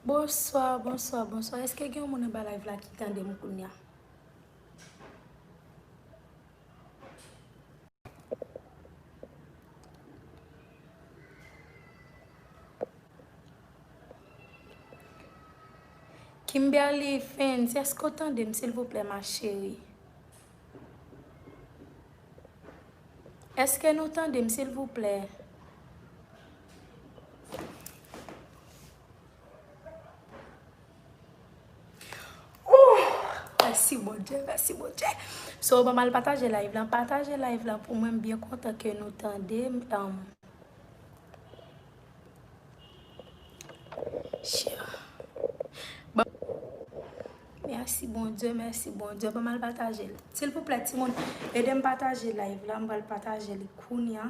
Bonsoir, bonsoir, bonsoir. Est-ce que gen moun anba live la ki tande m kounya? Kimberly Fens eske ou tande m silvouplè ma cheri? Eske nou tande m silvouplè? Mèsi Bondye, mèsi Bondye. So, banm al pataje live lan. Pataje live lan pou mwen. M byen kontan ke nou tande m. Mèsi Bondye, mèsi Bondye. Banm al pataje l. Silvouplè ti moun, ede m pataje live lan. M pral pataje li kounya.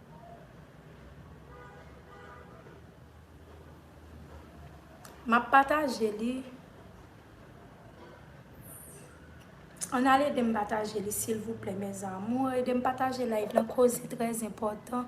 Map pataje li Ann al edem pataje li silvouplè mes amours edem pataje live lan koze trè enpòtan.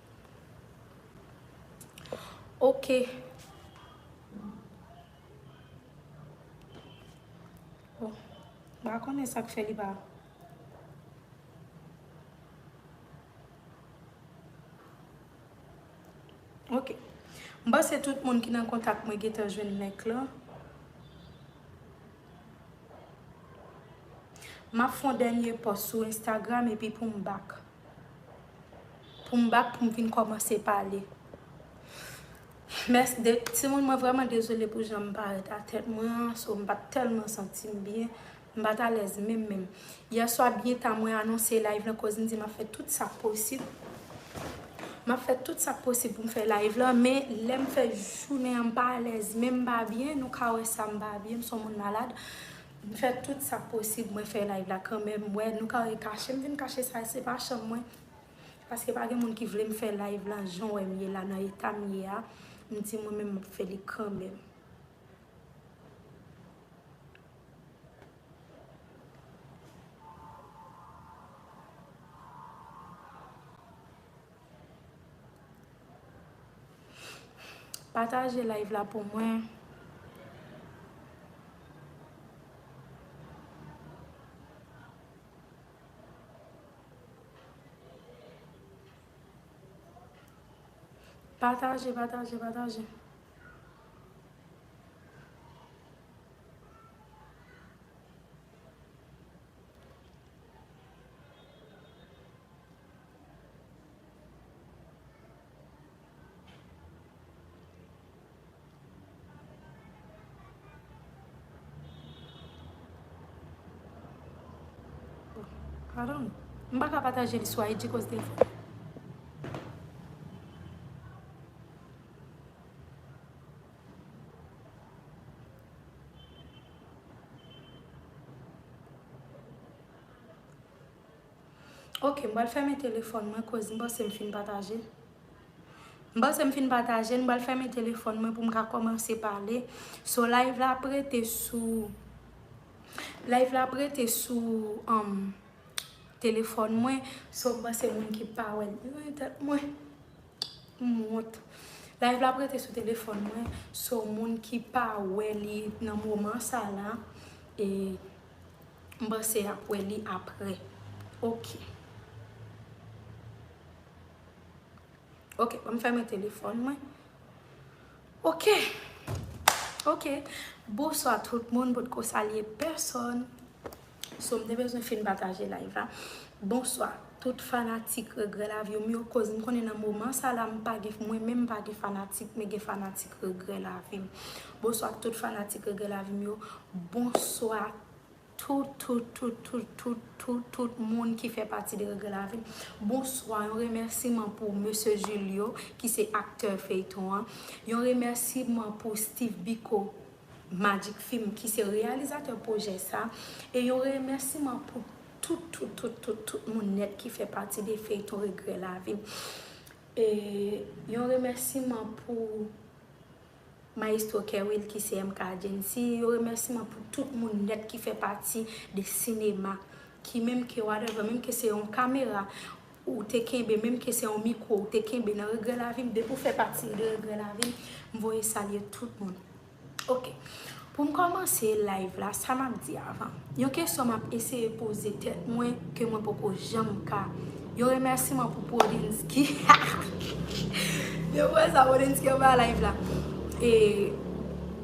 Okay. Oh. Ba konnen sak fè li ba. Ok. Mba se tout moun ki nan kontak mwen getan jwenn link la. Map fon dènye post sou Instagram epi poum bak. Pou m bak pou m vin kòmanse pale. Mès de timoun mwen vrèman dezole pou jan m parèt a tèt mwen an so m pa t tèlman santi m byen. M pa t alèz menm menm. Yè swa byen ta mwen anonse layv lan koz m di m ap fè tout sa k posib. M ap fè tout sa k posib pou m fè layv lan men lè m fè jounen an m pa alèz menm m pa byen nou ka wè sa m pa byen m s on moun malad. M fè tout sak posib mwen fè live la kanmenm m wè nou kare kachem vin kache sa se pa chanm mwen paske pa gen moun ki vlem fè live la jan w wèm ye la nan etam ye a m di mwen menm map fè li kanmenm. Pataje live la pou mwen. Pataje, pataje, pataje. Pardon. M pa ka pataje li sou IG koz defo. Ok m pral fèmen telefòn mwen koz m panse m fin pataje M panse m fin pataje m pral fèmen telefòn mwen pou m ka kòmanse pale So live la ap rete sou Live la ap rete sou um telefòn mwen So m panse moun ki pa wè m Woy tèt mwen M wont Live la ap rete sou telefòn mwen So moun ki pa wè li nan moman sa la e. M panse yap we li apre ok. Ok banm fèmen telefon mwen ok ok bonswa tout moun potko salye pèsòn so m te bezwen fin pataje live la bonswa. Tout fanatik regrè laviw m yo koz m konnen nan moman sa la m pa gen mwen menm m pa gen fanatik men gen fanatik regrè lavi m bonswa tout fanatik regrè lavi m yo bonswa tout tout tout tout tout tout tout moun ki fè pati de regrè lavi m bonswa yon remèsiman pou mesye Julio ki se aktè feyton an yon remèsiman pou Steeve Biko Magic film ki se reyalizatè pwojè sa e yon remèsiman pou tout tout tout tout tout moun nèt ki fè pati de feyton regrè lavim e yon remèsiman pou maestro kerwill ki se MK Agency yon remèsiman pou tout moun nèt ki fè pati de sinema ki menm ke whatever menm ke se yon kamera ou te kenbe menm ke se yon mikro ou te kenbe nan regrè lavim depi ou fè pati de regrè lavim m voye salye tout moun. Ok, pou m kòmanse live la, sa m ap di avan. Yon kesyon m ap eseye poze tèt mwen ke mwen poko janm ka. Yon remèsiman pou Prodensky. Depi wè sa Prodensky anba live la. E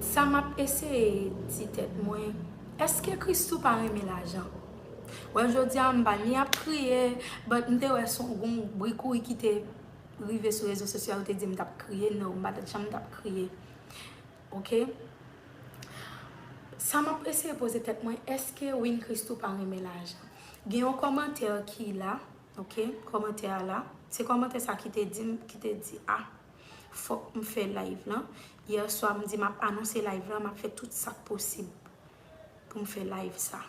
sa m ap eseye di tèt mwen, eske Christoo pa renmen lajan? Wè jodi a m pa ni ap kriye, but m te wè son gon bri kouri ki te rive sou rezo sosyo a yo te di m t ap kriye. No, m pa t janm t ap kriye. Ok Sa map eseye poze tèt mwen eske Win Christoo pa renmen lajan Gen yon kòmantè ki la Ok kòmantè a la Se kòmantè sa ki te dim ki te di a Fòk m fè live lan Yèswa m di map anonse live lan map fè tout sak posib Pou m fè live sa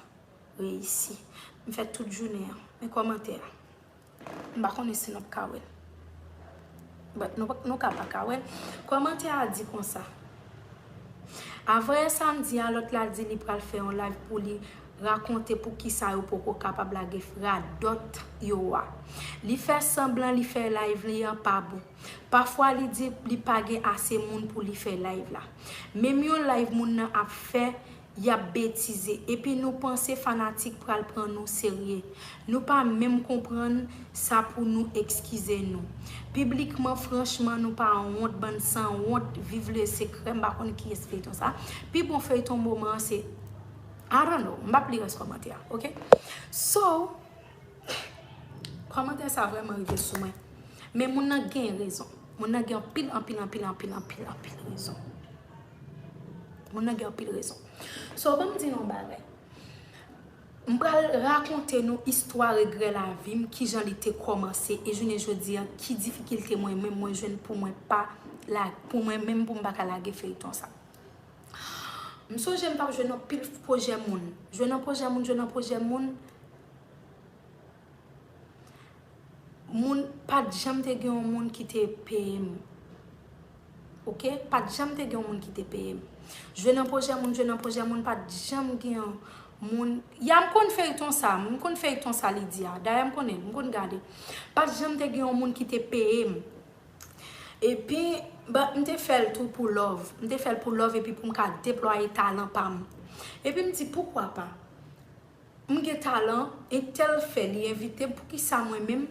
Reyisi M fè tout jounen an Men kòmantè a. M pa konnen si nap ka wèl. But nou ka pa ka wèl. Kòmantè a di konsa. Avanyè samdi a lòt la di li pral fè yon live pou li rakonte pou kisa yo poko kapab lage radòt yo a. Li fè sanblan li fè live li an pa bon. Pafwa li di li pa gen ase moun pou li fè live la. Menm yon live moun nan ap fè Yap betize epi nou panse fanatik pral pran nou serye nou pa menm konprann sa pou nou ekskize nou piblikman franchman nou pa wont bann san wont viv le secret m pa konn kiyes feyton sa pi bon feyton moman an se I don't know m pap li rès kòmantè a ok so kòmantè sa vrèman rive sou mwen men moun nan gen rezon moun nan gen anpil anpil anpil anpil anpil anpil rezon. Moun nan gen anpil rezon. So banm di nou yon bagay. M pral rakonte nou istwa regrè lavi m, kijan li te kòmanse e jounen jodi a ki difikilte mwen menm mwen jwenn pou mwen pa lage, pou mwen menm pou m pa ka lage feyton sa. M sonje m tap jwe nan pil pwojè moun, jwe nan pwojè moun, jwe nan pwojè moun. Moun pat janm te gen yon moun ki te peyem ok pat janm te gen yon moun ki te peyem jwe nan projè moun jwe nan projè moun pat janm gen yon moun ya m konn feyton sa m konn feyton sa li di a dayè m konnen m konn gade pat janm te gen yon moun ki te peyem epi ba m te fè l tou pou lòv m te fè l pou lòv epi pou m ka deplwaye talan pa m epi m di poukwa pa. M gen talan entèl fè li envitem poukisa mwen menm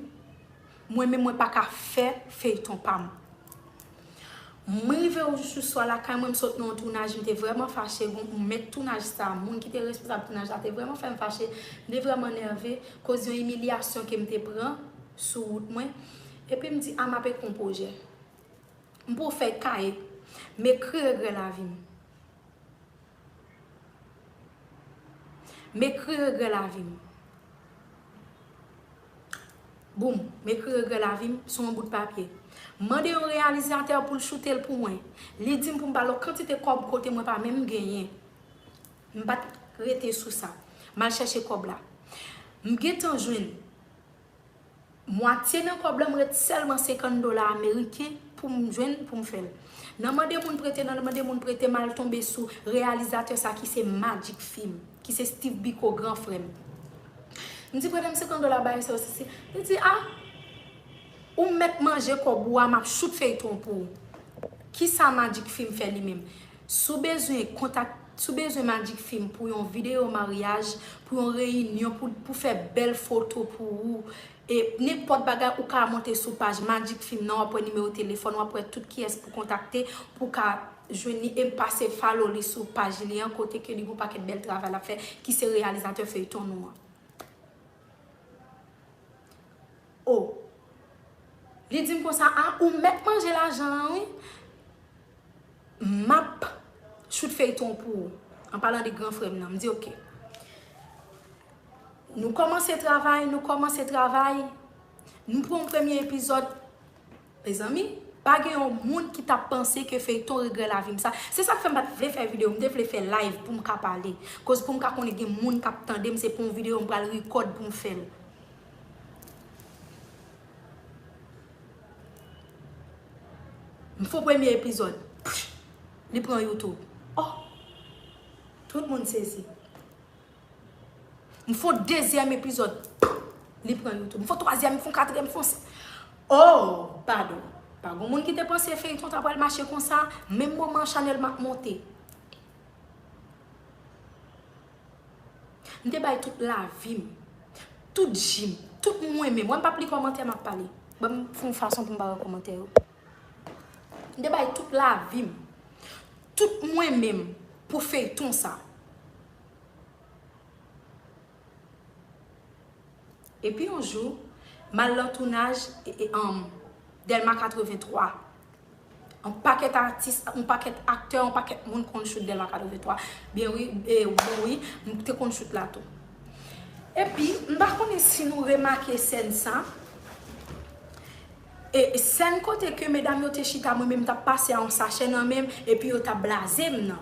mwen menm mwen paka fè feyton pam m rive jou swa lakay mwen m sot nan yon tounaj m te vrèman fache gon mèt tounaj sa moun ki te responsab tounaj la te vrèman fèm fache m te vrèman nève koz yon imilyasyon kem te pran sou wout mwen epi m di a map ekri yon pwojè m pran yon fèy kaye m ekri regrè lavim. M ekri regrè lavi m Boom M ekri regrè lavi m sou yon bout papye M mande yon reyalizatè pou l choute l pou mwen Li di m pou m ba l yon kantite kòb kote mwen pa menm genyen M pa t rete sou sa M al chèche kòb la M gentan jwenn Mwatye nan kòb la m ret sèlman 50 dola ameriken pou m jwenn pou m fè l. Nan mande moun prete nan mande moun prete m al tonbe sou reyalizatè sa ki se Magic Film, ki se Steve Biko gran frè m. M di prete m 50 dola bagay sa yo si si. Li di a ou mèt manje kòb ou a m ap choute feyton pou ou. Kisa Magic Film fè li menm? Si w bezwen kontak. Si w bezwen magic film pou yon videyo maryaj, pou yon reyinyon, pou fè bèl foto pou ou, e nenpòt bagay ou ka monte sou paj magic film nan wap wè nimewo telefòn, wap wè tout kiyès pou kontakte pou w ka jwenn li e pase follow li sou paj li an kote ke li gon pakèt bèl travay lap fè ki se reyalizatè feyton nou an. O Li di m konsa a ou mèt manje lajan an wi M ap choute feyton pou ou An palan de gran frè m nan M di ok Nou kòmanse travay Nou kòmanse travay Nou pran yon premye epizòd Mezanmi pa gen yon moun ki tap panse ke feyton regrè lavim sa se sak fèm pat vle fè video m te vle fè live poum ka pale koz poum ka konnen gen moun kap tandem se pou yon video m pral record poum fèl m fon premye epizod pfff li pran youtube ohh tout moun sezi. M fon dezyèm epizòd Li pran youtube M fon twazyèm M fon katriyèm M fon s Oh padon Pa gon moun ki te panse feyton ta pral mache konsa Menm moman chanèl m ap monte M te bay tout lavi m Tout ji m Tout m renmen Wè m p ap li kòmantè m ap pale Ban m fon fason pou m pa wè kòmantè yo M te bay tout lavi m Tout m renmen m Pou feyton sa Epi yon jou, m al nan tounaj Dèlma 83. Yon pakèt atis, yon pakèt aktè, yon pakèt moun konn choute Dèlma 83. Byen wi, e bon wi, m te konn choute la tou. Epi, m pa konnen si nou remake sèn sa. E sèn kote ke medam yo te chita mwen menm m tap pase a yon sachè nan menm epi yo tap blaze m nan.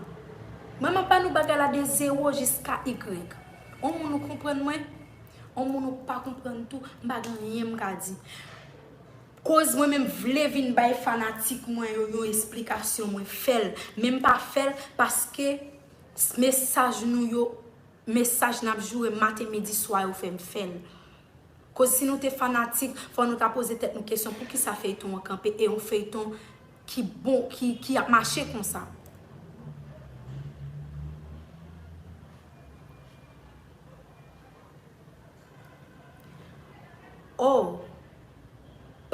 Mwen map ba nou bagay la de zero jiska igrèg. On moun ou konprann mwen, on moun ou pa konprann tou, m pa gen anyen m ka di. Koz mwen menm vle vin bay fanatik mwen yo yon esplikasyon mwen fè l. Men m pa fè l paske mesaj nou yo, mesaj nap joure maten midi swa yo fè m fè l. Koz si nou te fanatik fò nou ta poze tèt nou kesyon poukisa feyton an kanpe e yon feyton ki bon ki ap mache konsa. Oh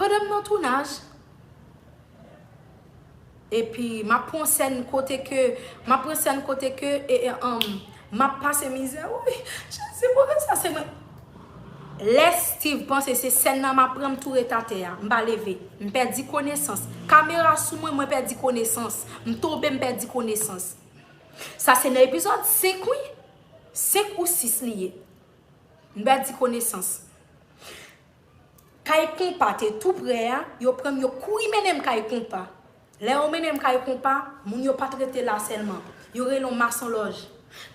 Pandan m nan tounaj. Epi map pwan sèn kote ke map pran sèn kote ke eeanm map pase mizè wouyy jezi pou ki sa se mwen lè Steeve panse se sèn nan map pran m tou ret atè a m pa leve m pèdi konesans kamera sou mwen mwen pèdi konesans m tonbe m pèdi konesans sa se nan epizòd 5 wi 5 ou 6 li ye m pèdi konesans. Kay konpa te tou prè a, yo pranm yo kouri mennenm kay konpa. Lè yo mennenm kay konpa, moun yo pat rete la sèlman. Yo rele'w mason lòj.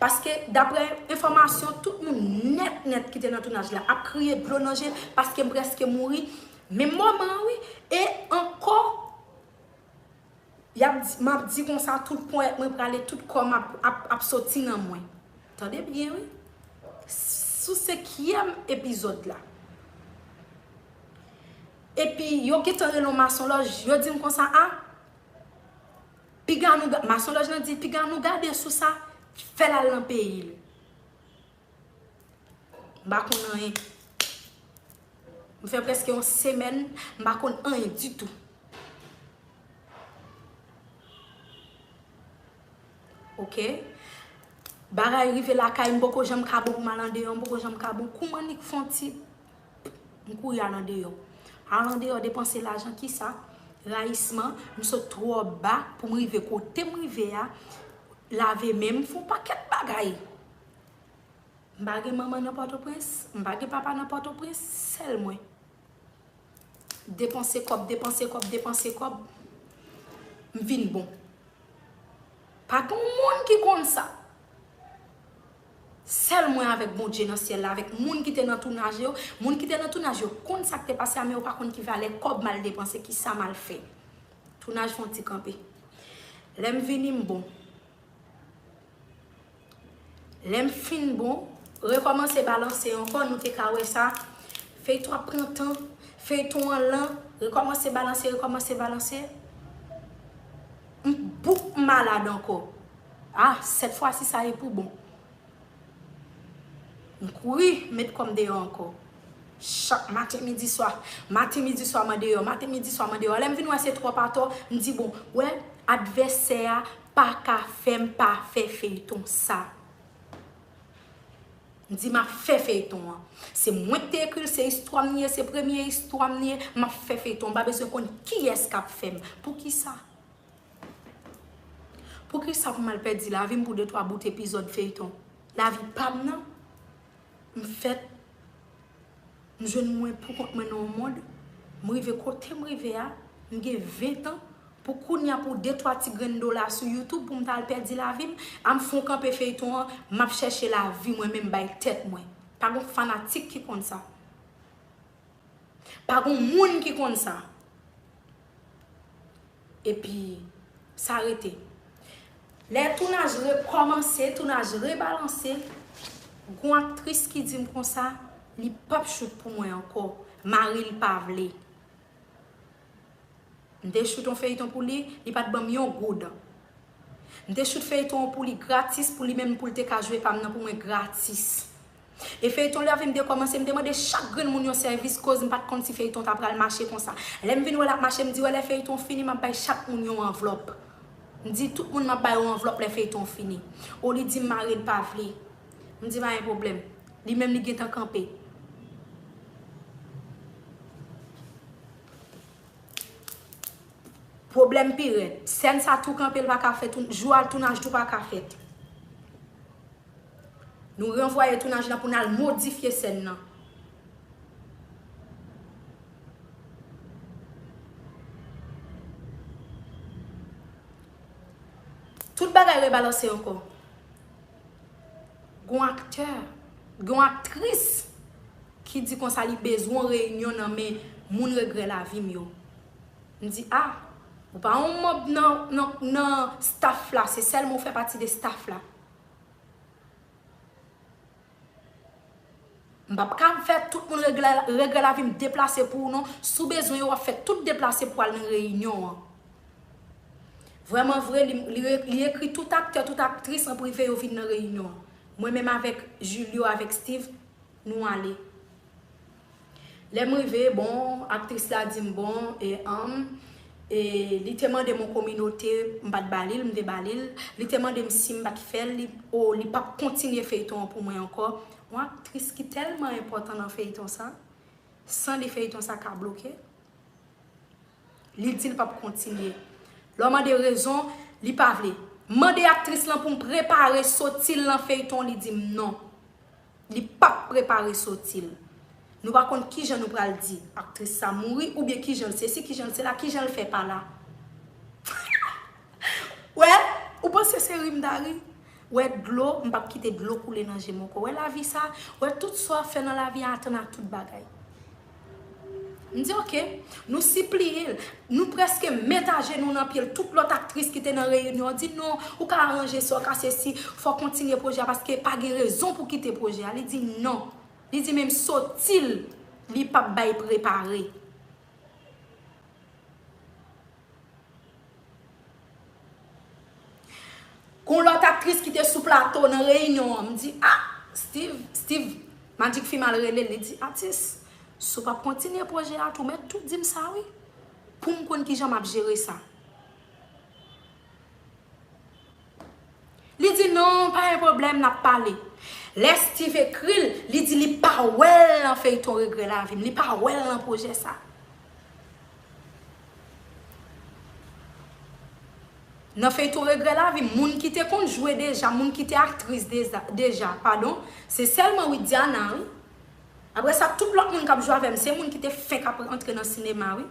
Paske daprè enfòmasyon tout moun nèt nèt ki te nan tounaj la ap kriye dlo nan je paskem preske mouri menm moman an wi e ankò Yap di map di konsa tout ponyèt mwen prale tout kòm ap ap soti nan mwen tande byen wi sou senkyèm epizòd la epi yo gentan rele yon masonlòj yo dim konsa a piga nou masonlòj lan di piga nou gade sou sa fèl al nan peyil. M pa konn anyen. M fè prèske yon semèn m pa konn anyen ditou. Ok. Bagay rive lakay m poko janm ka bon pou m al andeyò. M poko janm ka bon. Kou m annik fè yon ti m kouri al andeyò. Al andeyò depanse lajan ki sa? Rayisman. M sot twò ba pou m rive kote m rive a. Lave men m. M fè yon pakèt bagay. M pa gen manman nan Pòtoprens, m pa gen papa nan Pòtoprens, sèl mwen. Depanse kòb, depanse kòb, depanse kòb, m vin bon. Pa gen yon moun ki konn sa. Sèl mwen avèk Bondye nan syèl la, avèk moun ki te nan tounaj yo. Moun ki te nan tounaj yo konn sa k te pase a men yo pa konn ki valè kòb m al depanse, ki sa m al fè. Tounaj fè yon ti kanpe. Lè m vini m bon. Lèm fin bon rekòmanse balanse ankò nou te ka wè sa feyton ap pran tan feyton an lan rekòmanse balanse rekòmanse balanse m bouk m malad ankò ah sèt fwasi sa e pou bon. M kouri met kòm deyò ankò. Chak maten midi swa. Maten midi swa man deyò. Maten midi swa man deyò. Lè m vin wè se twòp atò, m di bon, wè, advèsè a pa ka fè m pa fè feyton sa. M di m ap fè feyton an. Se mwen k te ekri l, se istwa m li ye, se premye istwa m li ye, m ap fè feyton an. M pa bezwen konn kiyès k ap fè m. Poukisa? Poukisa pou mal pèdi lavim pou de twa bout epizòd feyton lavi pam nan m fèt m jwenn mwen pou kont mwen nan yon mond m rive kotem rive a m gen 20 ans pou kounya pou de twa ti grenn dola sou YouTube poum tal pèdi lavim am fon kanpe feyton an map chèche lavi mwen menm bay tèt mwen pa gon fanatik ki konn sa. Pa gon moun ki konn sa. Epi, sa rete. Lè tounaj rekòmanse, tounaj rebalanse, gon aktris ki di m konsa, li p ap choute pou mwen ankò. Mari l pa vle. M te choute yon feyiton pou li, li pa t ban m yon goud. M te choute feyiton an pou li gratis, pou li menm pou l te ka jwe pa m nan pou mwen gratis. E feyton li a vin dekomanse m te mande chak grenn moun yon sèvis koz m pat konn si feyton ta pral mache konsa lèm vin wè lap mache m di wè lè feyton fini map bay chak moun yon anvlòp m di tout moun map bayo anvlòp lè feyton fini o li dim maril pa vle m di pa gen pwoblèm li menm li gentan kanpe. Pwoblèm pi rèd. Sèn sa tou kanpe l paka fèt jou a tounaj tou paka fèt. Nou ranvwaye tounaj la pou nal modifye sèn nan. Tout bagay rebalanse ankò. Gon aktè, gon aktris ki di konsa li bezwen yon reyinyon nan men moun regrè lavi m yo. M di a, ou pa yon manb nan staff la, se sèlman ou fè pati de staff la. M pap ka fè tout moun regrè lavi m deplase pou ou non. Si w bezwen yo w ap fè tout deplase pou al nan reyinyon an. Vrèman vre, li ekri tout aktè, tout aktris an prive yo vin nan reyinyon an. Mwen menm avèk Julio avèk Steeve, nou ale. Lèm rive bon aktris la dim bon e anm e li te mandem yon kominote m pat balil m te balil li te mandem sim pat fèl li o li pap kontinye feyton an pou mwen ankò yon aktris ki tèlman enpòtan nan feyton sa san li feyton sa ka bloke li dil pap kontinye lèw mande rezon li pa vle mande aktris lan poum prepare sotil nan feyton li dim non. Li pap prepare soti l. Nou pa konn kijan nou pral di aktris sa mouri oubyen kijan l sesi kijan l sela kijan l fè pa la. Ou wè, ou panse se ri m ta ri? Ou wè dlo, m pap kite dlo koule nan je m ankò. Ou wè lavi sa? Ou wè tout sa w ap fè nan lavi a atann ak tout bagay. M di ok. Nou sipliye l. Nou prèske met ajenou nan pye l. Tout lòt aktris ki te nan reyinyon an di non, ou ka aranje sa w ka sesi, fò w kontinye pwojè a paske pa gen rezon pou w kite pwojè a. Li di non. Li di menm soti l, li pap bay prepare. Gon lòt aktris ki te sou plato nan reyinyon an, m di a, Steeve, Steeve, Magic Film al rele l, li di, Atis, si w p ap kontinye pwojè a tou, mèt tou di m sa wi, pou m konn kijan m ap jere sa. Li di non, pa gen pwoblèm, n ap pale. Lè Steeve ekri l, li di li pa wè l nan feyton regrè lavi m, li pa wè l nan pwojè sa. Nan feyton regrè lavi m, moun ki te konn jwe deja, moun ki te aktris deja, padon, se sèlman Widiana wi. Apre sa, tout lòt moun k ap jwe avè m, se moun ki te fenk ap antre nan sinema wi.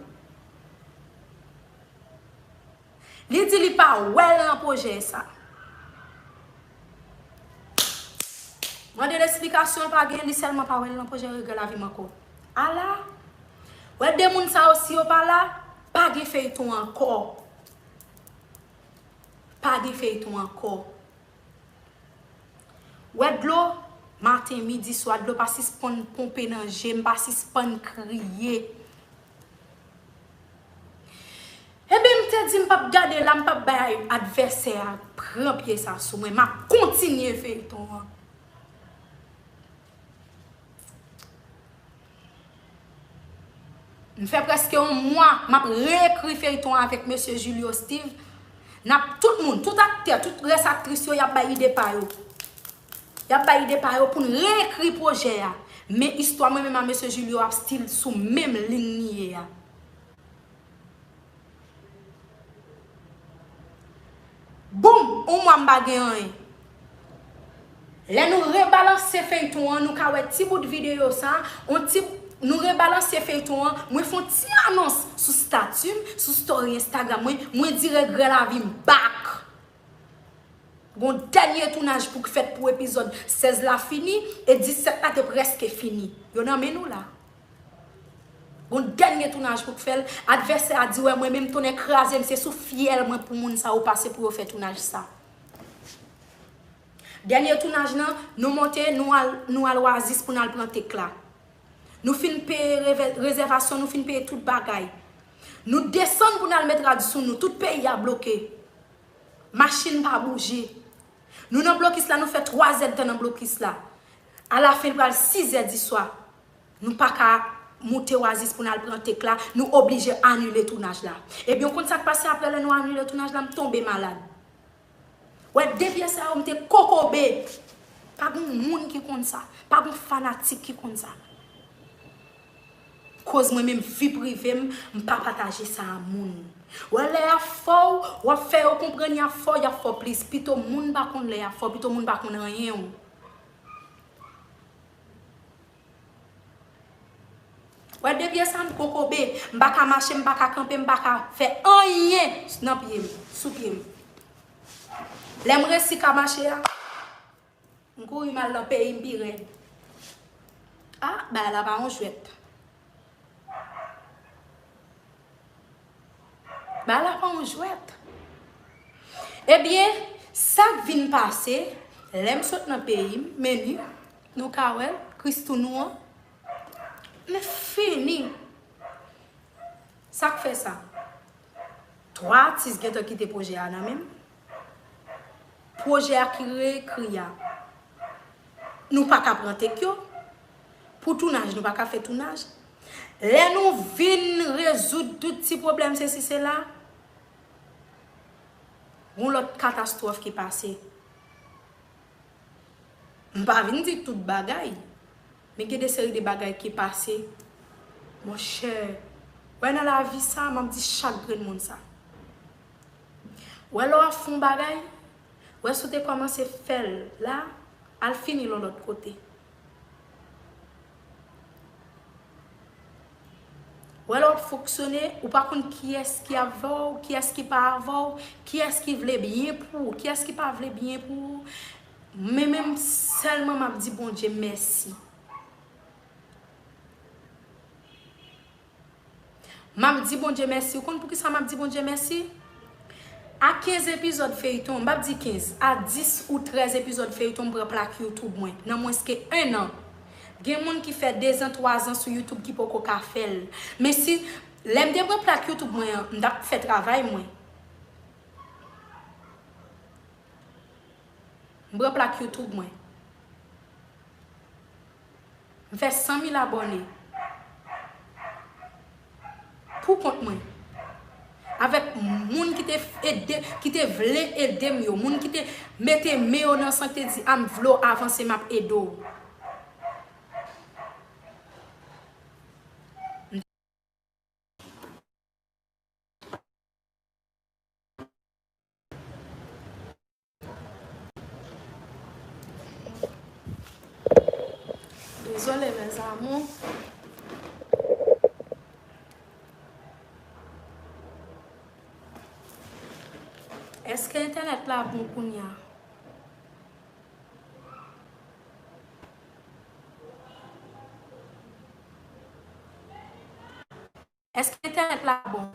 Li di li pa wè l nan pwojè sa. Mande l esplikasyon l pa gen, li sèlman pa wè l nan pwojè regrè lavi m ankò. Ala! Wè 2 moun sa yo si yo pa la, pa gen feyton ankò. Pa gen feyton ankò. Wè dlo, maten, midi, swa, dlo pa sispann ponpe nan je m, pa sispann kriye. Enben, m te di m pap gade la, m pap bay advèsè a pran pye sa sou mwen, m ap kontinye feyton an. M fè prèske yon mwa m ap reekri feyton an avèk mesye Julio Steeve N ap tout moun, tout aktè, tout rès aktris yo y ap bay ide pa yo Y ap bay ide pa yo pou n reekri pwojè a Men istwa mwen menm a mesye Julio ap stil sou menm lin li ye a Boom! On mwa m pa gen anyen. Lè nou rebalanse feyton an nou ka wè ti bout videyo sa, on ti Nou rebalanse feyton an, mwen fon ti anons sou stati m, sou story Instagram mwen, mwen di regrè lavi m back! Gon dènye tounaj pou k fèt pou epizòd 16 la fini e 17 la te prèske fini. Yo nan men nou la. Gon dènye tounaj pou k fè l. Advèsè a di wè mwen menm tonnè kraze m se sou fyèl mwen pou moun sa yo pase pou yo fè tounaj sa. Dènye tounaj lan nou monte nou al oasis pou n al pran take la. Nou fin peye rezèvasyon, nou fin peye tout bagay. Nou desann pou n al met rad sou nou, tout peyi a bloke. Machin pa bouje. Nou nan blokis la, nou fè twazèdtan nan blokis la. Alafen li pral sizè diswa. Nou pa ka moute Oasis pou n al pran take la, nou oblije anile tounaj la. Ebyen ou konn sa k pase aprè lè nou anile tounaj la? M tonbe malad. Wè de pyè sa yo m te kokobe. Pa gon moun ki konn sa. Pa gon fanatik ki konn sa. Koz mwen menm vi prive m, m pa pataje sa a moun. Wè lè y ap fò w, w ap fè yo konprann y ap fò, y ap fò plis. Pito moun pa konn lè y ap fò, pito moun pa konn anyen w. Wè de pye sa m kokobe, m pa ka mache, m pa ka kanpe, m pa ka fè anyen nan pye m, sou pye m. Lè m resi ka mache a, m kouri m al nan peyi m pi rèd. A, bagay la pa yon jwèt. Bagay la pa yon jwèt. Ebyen, sa k vin pase, lè m sot nan peyi m, meni, Nou ka wè christoo nou an men fini sak fè sa 3 atis gentan kite pwojè a nan menm pwojè a ki re ekri a nou paka pran tek yo pou tounaj nou paka fè tounaj lè nou vin rezoud tout ti pwoblèm sesi sela gon lòt katastwòf ki pase M pa vin di tout bagay, men gen de seri de bagay ki pase, monchè, wè nan lavi sa, m ap di chak grenn moun sa. Wè lè w ap fè yon bagay, wè si w te kòmanse fè l la, al fini l yon lòt kote. Ou wè lè wap fonksyone, ou pa konn kiyès ki avè w, kiyès ki pa avè w, kiyès ki vle byen pou ou, kiyès ki pa vle byen pou ou. Mwen menm sèlman map di Bondye mèsi. Map di Bondye mèsi ou konn poukisa map di Bondye mèsi? A 15 epizòd feyton, mpa di 15, a 10 ou 13 epizòd feyton m pran plak youtube mwen nan mwens ke 1 an. Gen moun ki fè 2 zan 3 zan sou youtube ki poko ka fèl. Men si lèm te pran plak youtube mwen an m tap fè travay mwen. M pran plak youtube mwen. M fè 100 mil abòne pou kont mwen avèk moun ki te ede ki te vle ede m yo moun ki te mete men yo nan san ki te di a m vle w avanse m ap ede w. Dezole mes amour. Eske entenet la bon kounya? Eske entènèt la bon.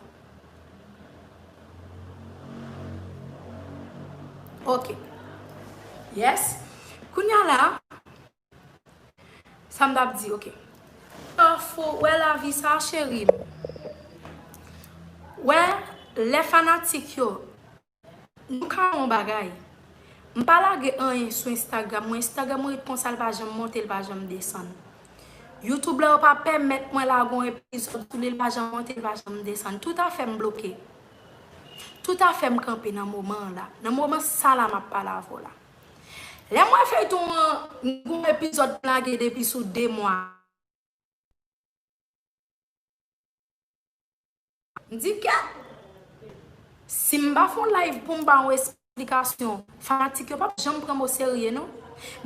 Ok. Yes. Kounya la. Sa m tap di ok. Pafo wè lavi sa cherim. Wè lè fanatik yo. Nou ka wè yon bagay. M pa lage anyen sou Instagram mwen, Instagram mwen ret konsa l pa janm monte l pa janm desann. YouTube la yo pa pèmèt mwen lage yon epizòd sou li l pa janm monte l pa janm desann. Tout afè m bloke. Tout afè m kanpe nan moman an la. Nan moman sa la m ap pale avè w la. Lè m wè feyton an m gen yon epizòd m lage depi sou 2 mwa. M di ke si m pa fè yon live pou m ba yon esplikasyon, fanatik yo pap janm pran m oserye non.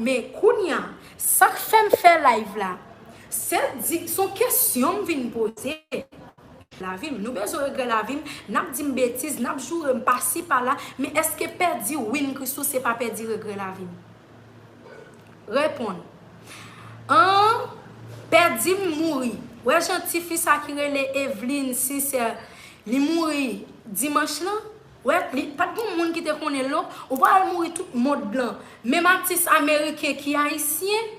Men kounye a, sa k fè m fè live la, se di, se yon kesyon m vin poze. Lavi m, nou bezwen regrè lavi m, n ap di m betiz, n ap joure m pasi pala, men èske pèdi Win Christoo se pa pèdi regrè lavi m? Reponn. Aah pè dim mouri wè jan tifi sa ki rele Evelyne sincè li mouri dimanch lan wè li pat gon moun ki te konnenl non ou pa wèl mouri tout mond lan menm atis ameriken ki ayisyen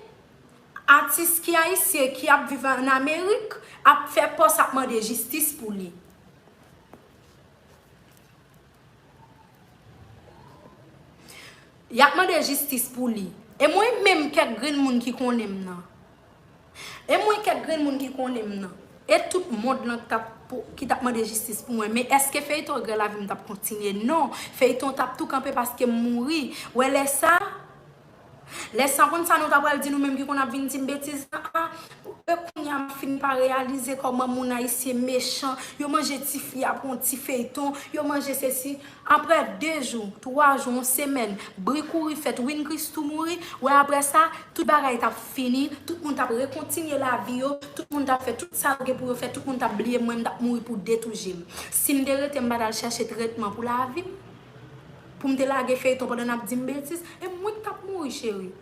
atis ki ayisyen ki ap viv an amerik ap fè pòs ap mande jistis pou li. Yap mande jistis pou li. E mwen menm kèk grenn moun ki konnen m nan. E mwen kèk grenn moun ki konnen m nan. E tout mond lan ki tap mande jistis pou mwen. Men eske feyton Grèlavi m tap kontinye? Non. Feyton tap tou kanpe paske m mouri. Wè lè sa. Lè sa konn sa nou ta pral di nou menm ki konn ap vin dim betiz la a, e kounya m fin pa reyalize kòman moun ayisyen mechan, yo manje ti fi a pou yon ti feyton, yo manje sesi, aprè 2 jou, 3 jou, yon semèn, bri kouri fèt Win Christoo mouri, wè aprè sa, tout bagay t ap fini, tout moun t ap rekontinye lavi yo, tout moun t ap fè tout sa yo gen pou yo fè, tout moun t ap bliye m mwen m t ap mouri pou 2 tou je m. Si m te rete m pa t al chache tretman pou lavi m. Poum te lage feyton pandan nap dim betiz e mwen ki tap mouri cheri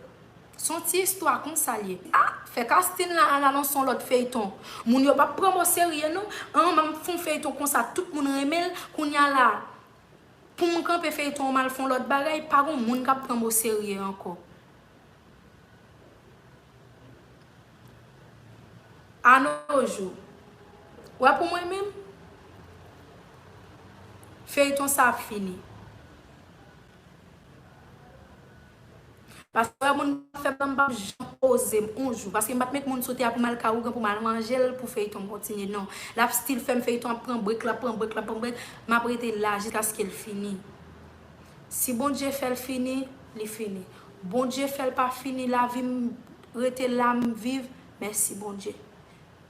son ti istwa konsa liye ah fè casting la ala nan son lòt feyton moun yo pap pranm oserye non an banm fon feyton konsa tout moun renmenl kounya la poum kanpe feyton an mal fon lòt bagay pa gon moun kap pranm oserye ankò. Anojou wè pou mwen menm feyton sa ap fini paske lè moun ap fè pranm pap janm pozem on jou paske m pat met moun sou tè a pou mal ka ougan pou mal manjel pou feyton kontinye non lap stil fèm feyton ap pran brek lap pran brek lap pran brek map rete la jiskaskel fini. Si Bondye fèl fini, li fini. Bondye fèl pa fini lavim rete la m viv mèsi Bondye.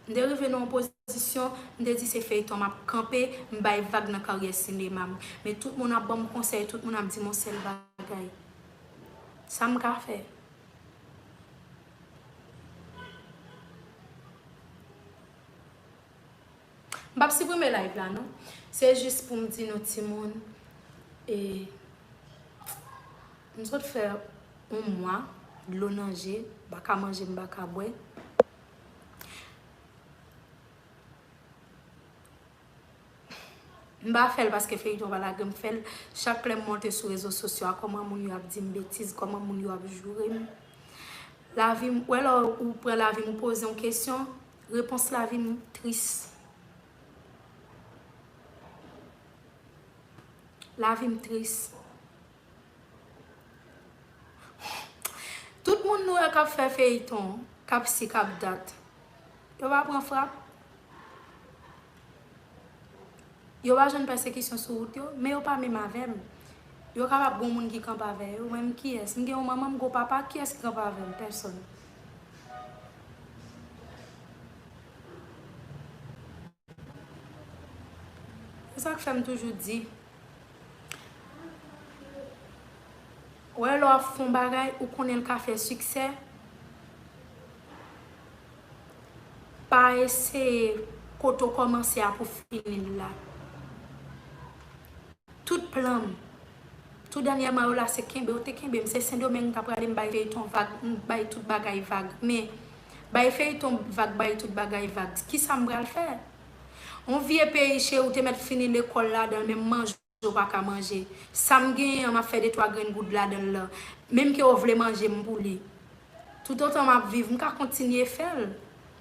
M te rive nan yon pozisyon m te di se feyton map kanpe m bay vag nan karyè sinema m. Men tout moun ap banm konsèy tout moun ap dim yon sèl bagay. Sa m ka fè? M pap siprime live la non. Se jis pou m di nou timoun e m sot fè yon mwa dlo nan je m pa ka manje m pa ka bwè. M pa fè l paske feyton pa lage m fè l chak lè m monte sou rezo sosyo a kòman moun yo ap di m betiz kòman moun yo ap joure m. Lavi m wè lè ou pran lavi m ou poze yon kesyon Repons la vin tris. Lavi m tris. Tout moun nou wè k ap fè feyiton, k ap si k ap dat, yo pa pran frap? Yo pa jwenn pèsekisyon sou wout yo, men yo pa menm avè m. Yo kapab gen yon moun ki kanpe avè yo, men m kiyès? M gen yon manman, m gen yon papa, kiyès ki kanpe avè m? Pèsòn. Se sa k fè m toujou di, wè lè w ap fè yon bagay, ou konnen l ka fè siksè, Pa eseye kote w kòmanse a pou fini l la. Tout plan m, tou dènyèman yo la se kenbe w te kenbe m. Se Sendomeng m ta prale m bay feyton vag, m bay tout bagay vag. Men, bay feyton vag, bay tout bagay vag. Kisa m pral fè? On vye peyi cheri w te mèt fini lekòl ladan l men m manje w. Ou pa ka manje. Sa m genyen an, m ap fè detwa grenn goud ladan l lan. Menm ke w vle manje m pou li. Toutotan m ap viv, m ka kontinye fè l.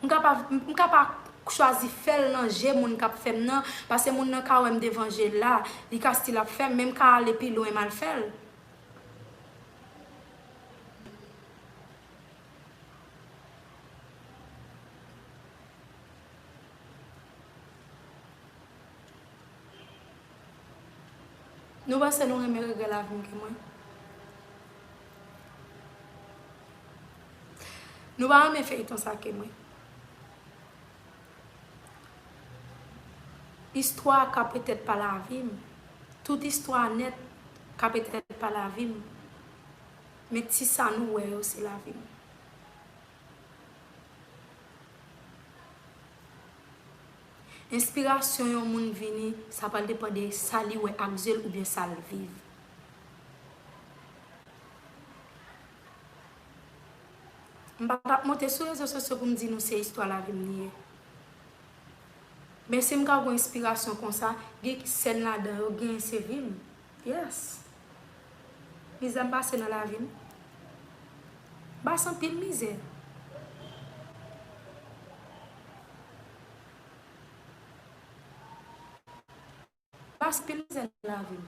M ka pa, m ka pa chwazi fè l nan je moun k ap fè m nan, pase moun nan ka wè m devan je l la, li ka stil ap fè m, men m ka ale pi lwen m al fè l. Nou panse nou renmen regrè lavi m ke mwen? Nou pa renmen feyton sa ke mwen? Istwa ka petèt pa lavi m, tout istwa nèt ka petèt pa lavi m, men ti sa nou wè yo se lavi m. Enspirasyon yon moun vini, sa pral depan de sa li wè ak zye l oubyen sa l viv. M pa tap monte sou rezo sosyo pou m di nou se istwa lavi m li ye. Men si m ka gon enspirasyon konsa, gen ki sèn ladan yo genyen se vi m. Yes. Mizè m pase nan lavi m. M pase anpil mizè. Pas pil mizè nan lavi m.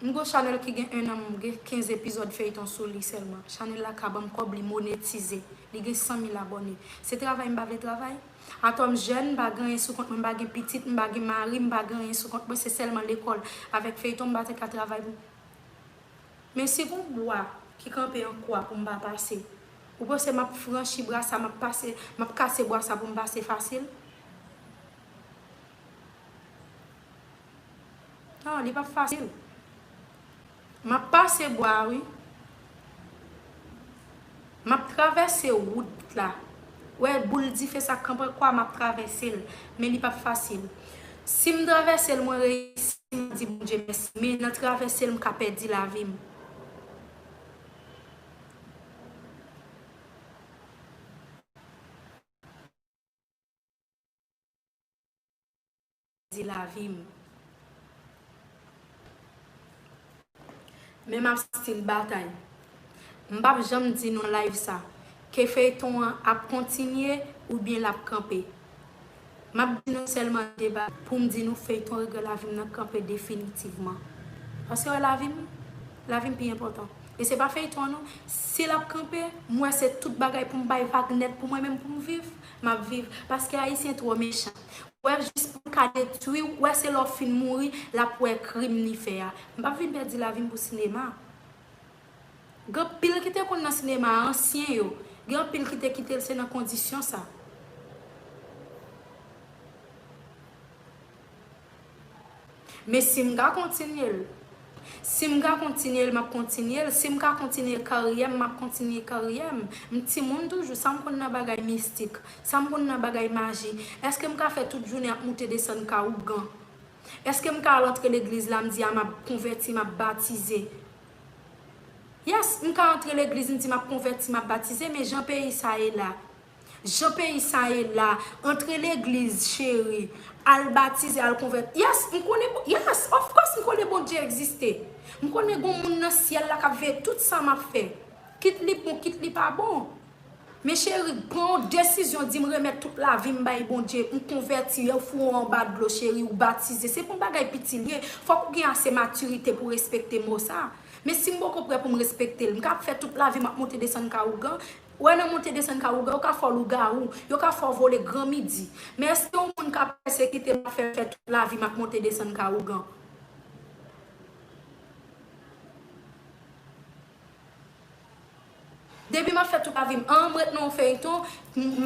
M gon chanèl ki gen 1 an m gen 15 epizòd feyton sou li sèlman chanèl la ka banm kòb li monetize li gen 100 mil abòne se travay m pa vle travay? Atò m jèn m pa gen anyen sou kont mwen m pa gen pitit m pa gen mari m pa gen anyen sou kont mwen se sèlman lekòl avèk feyton m pa te ka travay pou Men si gon bwa ki kanpe an kwa pou m pa pase, ou panse m ap franchi bra sa, m ap pase, m ap kase bwa sa pou m pase fasil? Non, li p ap fasil. M ap pase bwa a wi. Map travèse wout la Wè boul dife sa kanpe kwa map travèse l Men li pap fasil Sim travèse l mwen reyisi Map di Bondye mèsi Men nan travèse l m ka pèdi lavi m di lavi m men map still batay m pap janm di nan live sa ke feyton an ap kontinye oubyen lap kanpe map di nou sèlman de bagay poum di nou feyton regrè lavi m nan kanpe definitivman paske wè lavi m lavi m pi enpòtan e se pa feyton an non si lap kanpe m wè se tout bagay poum bay vag nèt pou mwen menm poum viv. map viv paske ayisyen tro mechan wè jis poul ka detwi w wè se lè w fin mouri lap wè krim li fè a m pap vin pèdi lavim pou sinema gen anpil ki te konn nan sinema ansyen yo gen anpil ki te kitel se nan kondisyon sa. Men si m ka kontinye l. Si m ka kontinye l, m ap kontinye l. Si m ka kontinye karyè m, m ap kontinye karyè m. M timoun toujou, sa m konn nan bagay mistik? Sa m konn nan bagay maji? Eske m ka fè tout jounen ap moute desann ka ougan? Eske m ka al antre legliz la, m di a m ap konvèti, m ap batize? Yes, m ka antre legliz m di m ap konvèti, m ap batize, men jan peyi sa ye la. Jan peyi sa ye la, antre legliz cheri, al batize, al konvèti. Yes, m konnen bon, yes, of course m konnen Bondye egziste. M konnen gon moun nan syèl la k ap veye tout sa m ap fè. Kit li bon, kit li pa bon. Men cheri, pran yon desizyon di m remèt tout lavi m bay Bondye, m konvèti, yo fou ou anba dlo cheri, ou batize. Se pa yon bagay piti li ye. Fòk ou gen ase matirite pou respekte mo sa. Men si m poko prè pou m respekte l, m ka ap fè tout lavi m ap monte desann ka ougan, Ou wè nan monte desann Kawougan, yo ka fè w lougawou, yo ka fè w vole gran midi. Men èske yon moun ka pèsekite m, ap fè m fè tout lavi m ap monte desann Kawougan? Depi m ap fè tout lavi m, an m ret nan yon feyton,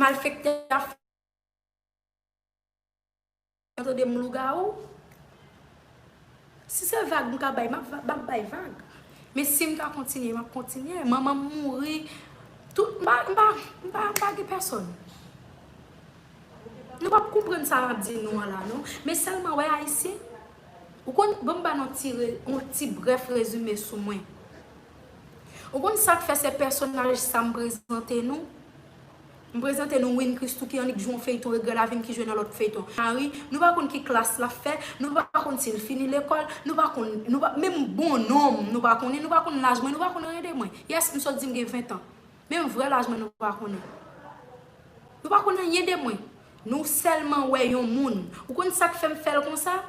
malfektè a fè. Ou tande m lougawou? Si se vag m ka bay, m ap bay vag. Men si m ka kontinye, m ap kontinye. Manman m mouri, tout, m pa, m pa gen pèsòn. Nou pap konprann sa m ap di nou an la non. Men sèlman wè Ayisyen, ou konn, ban m ba nou ti, yon ti brèf rezime sou mwen. Ou konn sa k fè se pèsonaj sa m prezante nou? M prezante nou Win Christoo ki annik jwe yon feyton Regrè lavi m ki jwe nan lòt feyton Marie, nou pa konn ki klas l ap fè, nou pa konn si l fini lekòl, nou pa konn, nou pa, menm bon non m nou pa konnen, nou pa konn laj mwen, nou pa konn anyen de mwen. Yes, m sot di m gen 20 tan. Menm vrè laj mwen nou pa konnen. Nou pa konn anyen de mwen. Nou sèlman wè yon moun. Ou konn sa k fè m fè l konsa?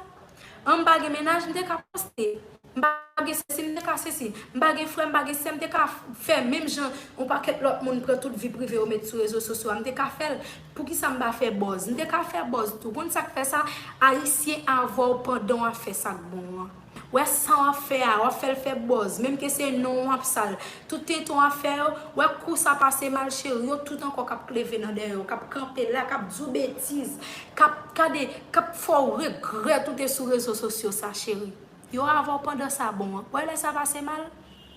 Anm pa gen mennaj, m te ka poste. m pa gen sesi m te ka sesi, m pa gen frè m pa gen sè m te ka fè menm jan yon pakèt lòt moun pran tout vi prive yo met sou rezo sosyo a m te ka fè l, poukisa m pa fè bòz? M te ka fè bòz tou. Konn sa k fè sa? Ayisyen avè w pandan w ap fè sa k bon an. Wè sa w ap fè a, w ap fè l fè bòz, menm ke se non w ap sal. Tout tenten w ap fè yo, wè kou sa pase mal cheri, yo tout ankò k ap kleve nan dèyè w, k ap kanpe la, k ap di w betiz, k ap, gade, k ap fè w regrèt ou te sou rezo sosyo sa cheri. Yo avèw pandan sa bon an. Wè lè sa pase mal?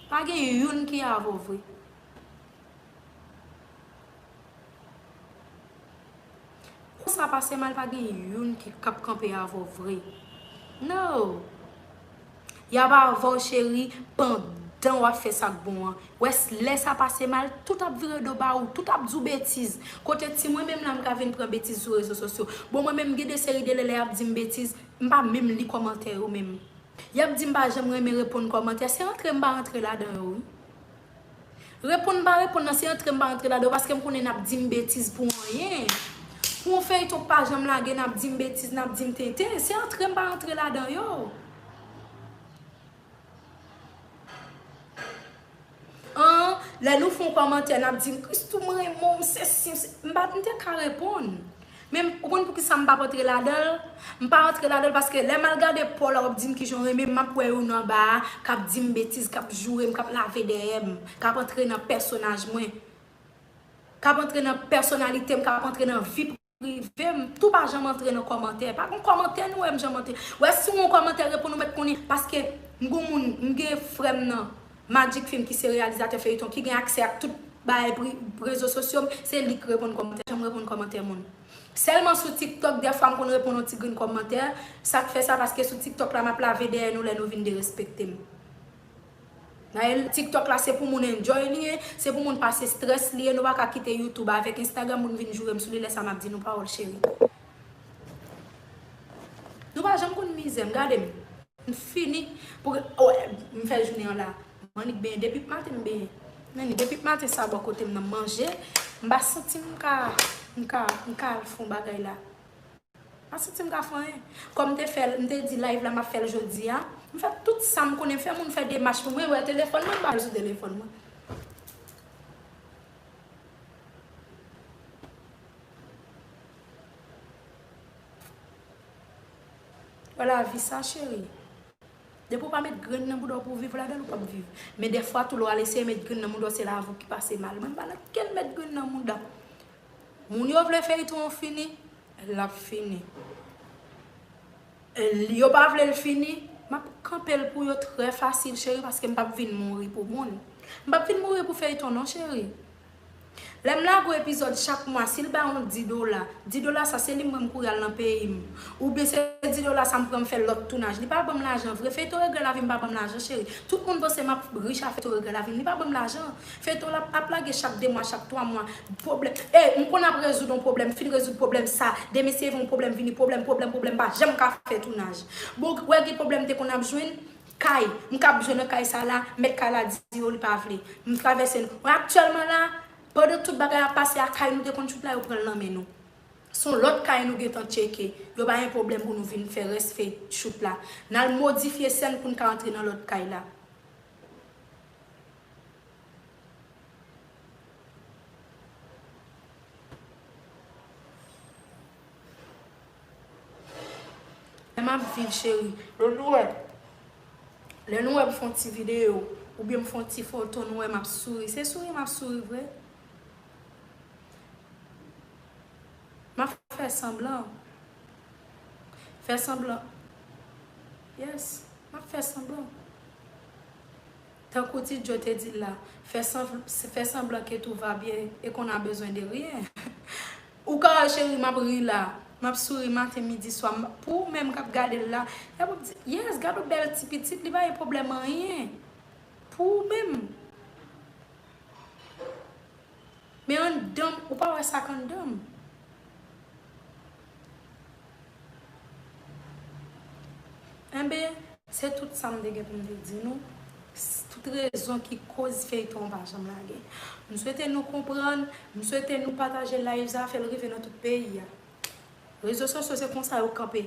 Pa gen youn ki avèw vre. Kou sa pase mal pa gen youn ki kap kanpe avèw vre. Noo. Yap avèw cheri pandan wap fè sak bon an. Wè lè sa pase mal tout ap vire do ba ou. Tout ap diw betiz. Kote ti mwen menm la m ka vin pran betiz sou rezo sosyo. Bon mwen menm gen de seri de lè lè yap dim betiz. M pa menm li kòmantè yo menm. Yap di m pa janm renmen reponn kòmantè, se antre m pa antre ladan yo wi. Reponn m pa reponn nan se antre m pa antre ladan yo paske m konnen nap di m betiz pou anyen. Pou yon feyton k pa janm lage nap di m betiz, nap di m tenten, se antre m pa antre ladan yo. Ahh lè nou fon kòmantè nap dim Christoo m renmen w sesi m sesi m pa m te ka reponn men ou konn poukisa m pa antre ladanl m pa antre ladanl paske lè m al gade paw la wap dim kijan w renmen m map wè yo nan ba a kap dim betiz kap joure m kap lave dèyè m kap antre nan pèsonaj mwen kap antre nan pèsonalite m kap antre nan vi rivem tou pa janm antre nan kòmantè pa gon kòmantè nou wèm janm antre wè si ou gon kòmantè reponn ou mèt konnen paske m gon moun m gen frèm nan Magic film ki se reyalizatè feyiton ki gen aksè ak tout bagay pri rezo sosyo m se lik reponn kòmantè janm reponn kòmantè moun sèlman sou tiktok dèfwa m konn reponn yon ti grenn kòmantè sak fè sa paske sou tiktok la map lave dèyè nou lè nou vin derespektem. Naël tiktok la se pou moun enjoy li ye, se pou moun pase stress li ye nou paka kite youtube avek instagram moun vin jourem sou li lèsa map di nou pawòl cheri. Nou pa janm konn mizèm gadem m fini pou oh m fè jounen an la m annik benyen depip maten m benyen men depip maten sa bò kotem nan m manje m pa santim ka m ka m ka al fon bagay la. Mpa santim ka fè anyen. Kòm mte fèl mte di live la map fèl jodia. Mfè tout sam konnen fè moun fè demach pou mwen wè telefòn mwen mbal sou telefòn mwen. Wè lavi sa cheri. Depi ou pa met grenn nan boudaw pou viv la bèl ou pap viv. Men dèfwa tou lè wal eseye met grenn nan moudaw se laviw ki pase mal. Mwen mpa nan ken met grenn nan mouda. Moun yo vle feyton an fini lap fini yo pa vlel fini map kanpel pou yo trè fasil cheri paske m pap vin mouri pou moun m pap vin mouri pou feyton non cheri lèm lage yon epizòd chak mwa sil ba yon di dola di dola sa se li m pran m kouri al nan peyim oubyen se di dola sa m pran m fè lòt tounaj li pa banm lajan vre feyton regrè lavim pa banm lajan cheri tout moun panse map rich a feyton regrè lavim li pa banm lajan Feyton la ap lage chak 2 mwa chak 3 mwa pwoblèm ey m konn ap rezoud on pwoblèm fin rezoud pwoblèm sa demen se yon pwoblèm vini pwoblèm pwoblèm pwoblèm m pa janm ka fè tounaj bon ou wè gen pwoblèm m te konn ap jwenn kay m ka bzwen nan kay sa la mèt kay la di yo li pa vle m travèse n men aktyèlman la pandan tout bagay ap pase a kay nou te konn tchoup la yo pran l nan men nou s on lòt kay nou gentan tcheke yo ba yn pwoblèm pou nou vin fè rès fey tchoup la n al modifye sèn pou n ka antre nan lòt kay la. Lè m ap viv cheri, lè nou wè Lè nou wè m fè yon ti videyo oubyen m fè yon ti foto nou wè m ap souri, se souri m ap souri vre? M ap fè sanblan Fè sanblan Yes, m ap fè sanblan. Tankou Ti Djo te di l la, fè sanblan ke tou va byen e qu'on a besoin de rien. Ou Carl cheri map ri la, map souri maten midi swa, pou ou menm kap gade l la, yap wap di, yes gadon bèl ti pitit li pa gen pwoblèm anyen pou ou menm. Men anndanm ou pa wè sak anndanm. Enben, se tout sa m te gen pou m te di nou, tout rezon ki koz feyton an pa janm lage. M swete nou konprann, m swete nou pataje live sa fè l rive nan tout peyi a. Rezo sosyo se konsa yo kanpe.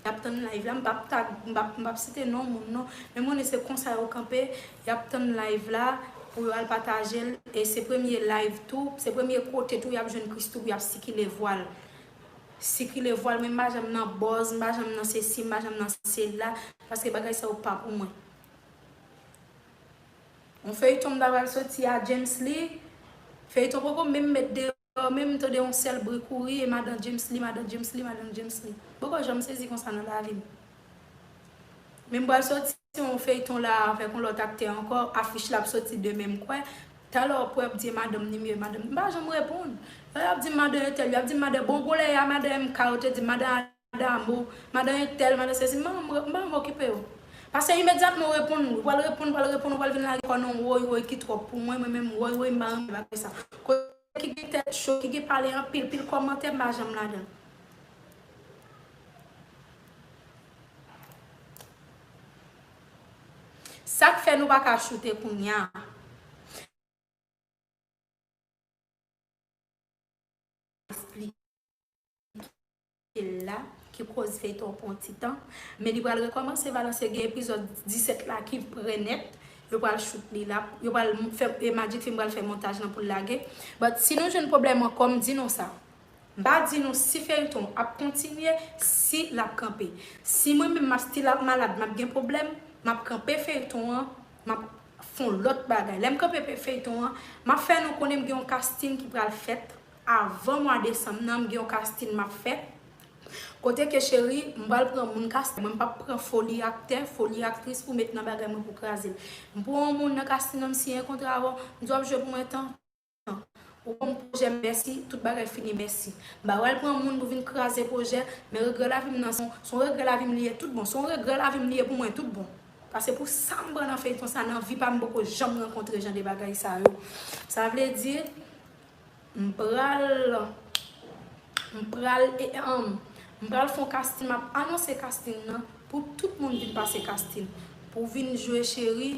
Y ap tann live la, m pap tag, m pap site non moun non, men m konnen se konsa yo kanpe, y ap tann live la pou yo al pataje l e se premye live tou, se premye kote tou y ap jwenn Christoo pou y ap sikile vwa l. sikile vwal mwen m pa janm nan bòz m pa janm nan sesi m pa janm nan sela paske bagay sa yo pa pou mwen yon feyton m ta pral soti a djemsly feyton poko menm met deyò menm m tande yon sèl bri kouri e madan djemsly madan djemsly madan djemsly m poko janm sezi konsa nan lavim men m pral soti. Se yon feyton la avèk yon lòt aktè ankò afich la ap soti demen m kwè talè w pwè bndye madanm ni mye madanm m pa janm reponn lè yap dim madan entèl yap dim madan bon gwo lè ya madan MK yo te dim madan Adamo madan entèl madan sesi m pa janm m pa janm okipe yo pase imedyatman w reponn ou pral reponn ou pral reponn ou pral vin lage kò nan woy woy ki twòp pou mwen mwen menm woy woy m pa renmen bagay sa. ki gen tèt cho, ki gen pale anpil, pil kòmantè m pa janm ladan. Sak fè nou paka choute kounya. ki la ki koz feyton pran ti tan men li pral rekomanse balanse gen epizod 17 la ki prè nèt yo pral shoot li la yo pral fè magic film pral fè montaj lan poul lage but si nou jwenn pwoblèm ankò m di nou sa m pa di nou si feyton ap kontinye si lap kanpe si mwen menm map still ap malad map gen pwoblèm map kanpe feyton an map fon lòt bagay lèm kanpe feyton an map fè nou konnen m gen yon casting ki pral fèt Avan mwa desanm nan m gen yon casting map fè kote ke cheri m pral pran moun casting mwen m pap pran foli aktè foli aktris pou met nan bagay mwen pou kraze l m pran yon moun nan casting nan m siyen kontra avè w m di w ap jwe pou mwen tan tan ou konn pwojè m mèsi tout bagay fini mèsi m pa pral pran moun pou vin kraze pwojè men regrè lavi m nan se yon regrè lavi m li ye tout bon se yon regrè lavi m li ye pou mwen tout bon pase pou sa m pran nan feyton sa nan vi pa m m poko janm rankontre jan de bagay sa yo sa vle di. M pral M pral eeanm M pral fon casting map anonse casting nan pou tout moun vin pase casting pou vin jwe cheri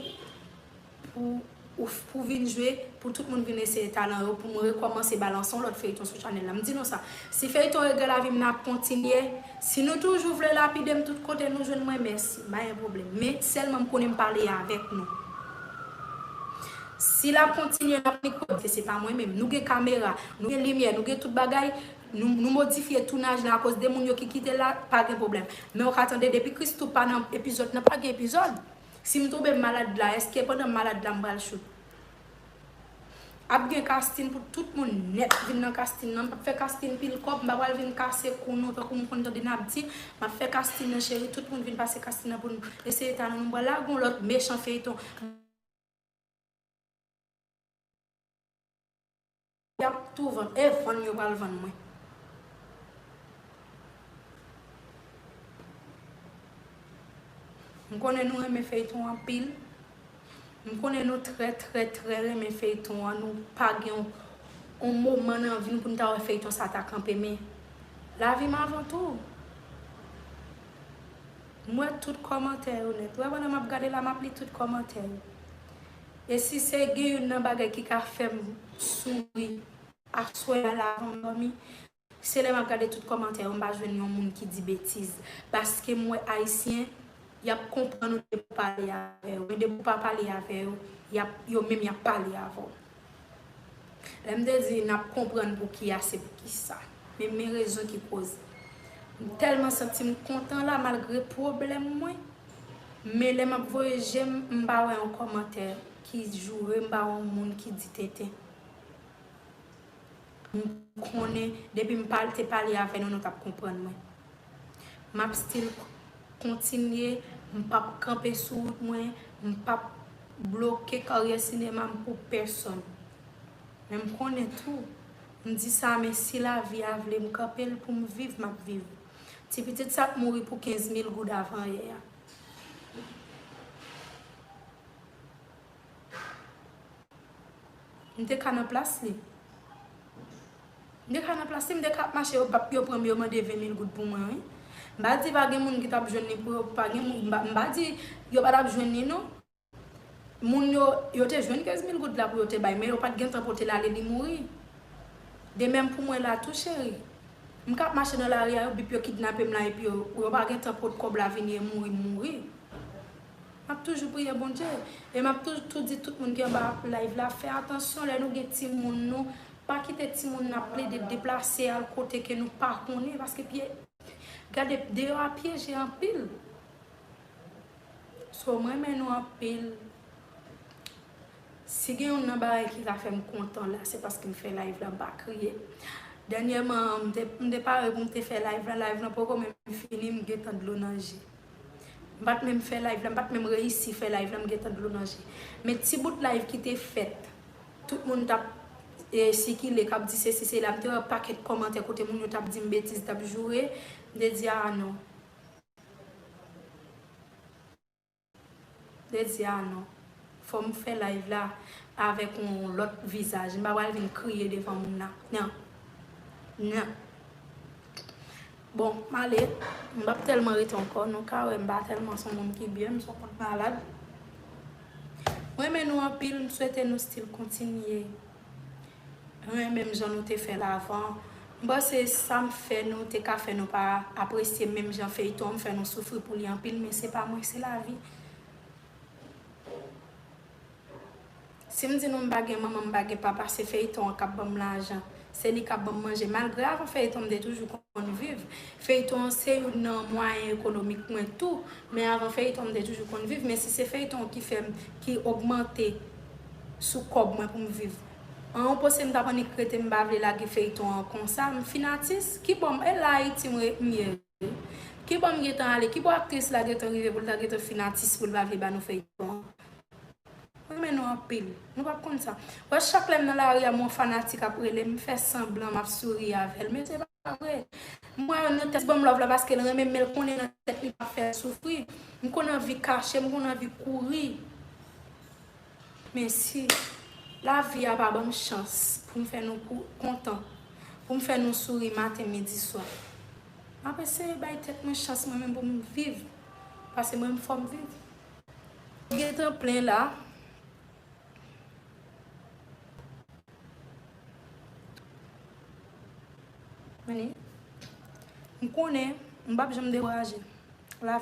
pou ou pou vin jwe pou tout moun vin eseye talan yo pou m rekòmanse ba lanse yon lòt feyton sou chanèl la m di nou sa si feyton regrè lavi m nan ap kontinye si nou toujou vle lapide m tout kote nou jwenn mwen mèsi m pa gen pwoblèm men sèlman m konnen m pale avèk nou. Si lap kontinye lap li kod ke se pa mwen menm. Nou gen kamera, nou gen limyè, nou gen tout bagay, nou modifye tounaj la akoz de moun yo ki kite l la, pa gen pwoblèm. Men ou ka tande depi Christoo pa nan epizòd nan pa gen epizòd. Si m tonbe malad la, eske pandan m malad la m pral shoot? Ap gen casting pou tout moun nèt vin nan casting nan. M pap fè casting pil kòb, m pa pral vin kase kou nou tankou m konn tande nap di. Map fè casting nan cheri, tout moun vin pase casting nan pou n eseye talan nou. M pral lage yon lòt mechan feyton. Yap tou vann e vann yo pral vann mwen. M konnen nou renmen feyton anpil. M konnen nou trè trè trè renmen feyton an nou pa gen yon yon moman nan vi nou pou nou ta wè feyton sa ta kanpe men lavi m avan tou. M wè tout kòmantè yo nèt. Wè pandan map gade la map li tout kòmantè yo. E si se gen youn nan bagay ki ka fèm souri aswè a la avanm dòmi se lè map gade tout kòmantè yo m pa jwenn yon moun ki di betiz paskem wè ayisyen yap konprann ou depi w pale avè yo men depi w pa pale avè yo yo menm yap pale avè w. Lè m te di n ap konprann pou ki a se pou ki sa. Men men rezon ki koz. M tèlman santi m kontan la malgre pwoblèm mwen. Men lè m ap voye je m, m pa wè yon kòmantè ki joure, m pa wè yon moun ki di tenten. M konnen depi m te pale avè nou, nou t ap konprann mwen. Map still kontinye, m pap kanpe sou wout mwen, m pap bloke karyè sinema m pou pèsòn. Men m konnen tou, m di sa men si lavi a vle m kanpe l pou m viv map viv. Ti pitit sa t mouri pou 15 mil goud avan yè a. M te ka nan plas li. M te ka nan plas li, m te ka ap mache, yo pa, yo pran m, yo mande 20 mil goud pou mwen wi. M pa di pa gen moun ki t ap jwenn li pou yo pa gen moun, m pa di yo pa t ap jwenn li non. Moun yo, yo te jwenn 15 mil goud la pou yo te bay, men yo pa t gen tan pote l ale, li mouri. De menm pou mwen la tou cheri. M ka ap mache nan lari a, yo bip, yo kidnape m la epi yo, yo pa gen tan pot kòb la vini e mouri, m mouri. Map toujou priye Bondye e map tou tou di tout moun ki anba live la fè atansyon lè nou gen timoun nou pa kite timoun nan ap plede deplase al kote ke nou pa konnen paske pye gade deyò a pyeje anpil so m renmen nou anpil si gen youn nan bagay ki ka fèm kontan la se paske m fè live la m pa kriye dènyèman m te pare pou m te fè live la live la poko menm fini m gentan dlo nan je. M pat menm fè live la, m pat menm reyisi fè live la m gentan dlo nan je. Men ti bout live ki te fèt, tout moun t ap sikile, k ap di sesi sela, m te wè pakèt kòmantè kote moun yo t ap di m betiz, t ap joure, m te di aa non. Jezi a non. Fòm fè live la avèk yon lòt vizaj. M pa pral vin kriye devan moun nan. Nan. Nan. Bon, m ale. M pap tèlman rete ankò. Nou ka wè m pa tèlman son moun ki byen. M son moun malad. M renmen nou anpil. M swete nou still kontinye. Nou renmen menm jan nou te fèl avan. M panse sam fè nou te ka fè nou pa apresye menm jan feyton an m fè nou soufri pou li anpil men se pa mwen se lavi. Sim di nou m pa gen manman m pa gen papa se feyton an kap banm lajan se li kap banm manje malgre avan feyton m te toujou konn viv feyton an se youn nan mwayen ekonomik mwen tou men avan feyton m te toujou konn viv men si se feyton ki fèm ki ogmante sou kòb mwen poum viv an ou pose mtap annik rete mpa vle lage feyton an konsa mfin atis kibòm e la ayiti mwen ye wi kibò mgentan ale kibò aktris la gentan rive poul ta gentan fin atis poul pa vle banou feyton an mwen renmen nou anpil nou pap konn sa wè chak lèm nan lari a m wè yon fanatik ap relem mfè sanblan map souri avèl men se pa vre m wè nan tèt li banm love la paskel renmenm menl konnen nan tèt li pap fèl soufri mkonn anvi kachem mkonn anvi kouri. Men si lavi a pa ban m chans pou m fè nou kontan, pou m fè nou souri maten, midi, swa, m ap eseye bay tèt mwen chans mwen menm pou m viv, pase mwen menm fò m viv. Ou gentan plen la. Men, m konnen m p ap janm dekouraje. Lavi.